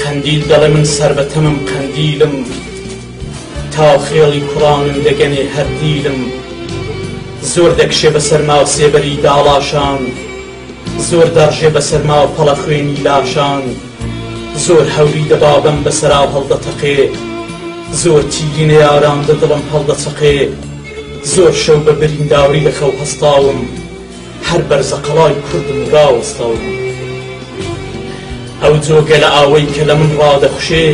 قەندیل دەڵێ من سەر بە تەمم قەندیلم تا خێڵی کوڕانم دەگەنێ هەر دیلم زۆر دەکشێ بە سەرما سێبەری داڵاشان زۆر دەڕژێ بە سەرما پەڵە خوێنی لاشان زۆر هەوری دە بابم بە سەرا هەڵدەتەقێ زۆر تیری نەیاران دە دڵم هەڵدەچەقێ زۆر شەو بە برینداری لە خەو هەستاوم هەر بەرزەقەڵای کوردم و راوەستاو بوو ئەو جۆگەلە ئاوەی کە لە من رادەخوشێ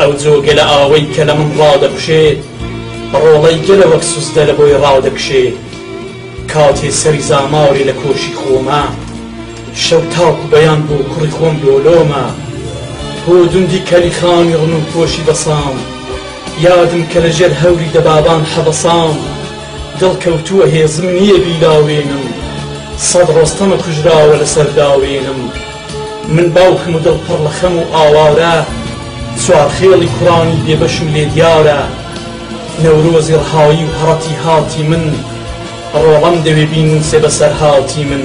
ئەو جۆگەلە ئاوەی کە لە من رادەخوشێ بە رۆڵەی گەلە وەک سوزدە لە بۆی رادەکشێ کاتێ سەری زامارێ لە کۆشی خۆمە شەو تاکو بەیان بۆ کوڕی خۆم لۆلۆمە بۆ دوندی کەلی خانی رنوو پۆشی بەسام یادم کە لە ژێر هەوری دەبابان حەبەسام دڵ کەوتووە هێزم نییە بیلاوێنم سەد ڕۆستەم کوژراوە لەسەر داوێنم من باوکم و دڵ پڕ لە خەم و ئاوارە چوار خێڵی کوڕانی بێبەشم لێ دیارە نەورۆزی ڕەهایی و هەڕەتی هاتی من ڕۆڵەم دەوێ بینووسێ بەسەرهاتی من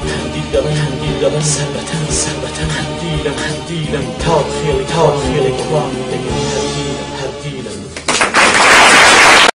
قەندیل دەڵێن قەندیل دەڵێن سەر بە تەن سەر بە تەن قەندیلم قەندیلم تاو خێڵی تاو خێڵی کوڕانی دەگەن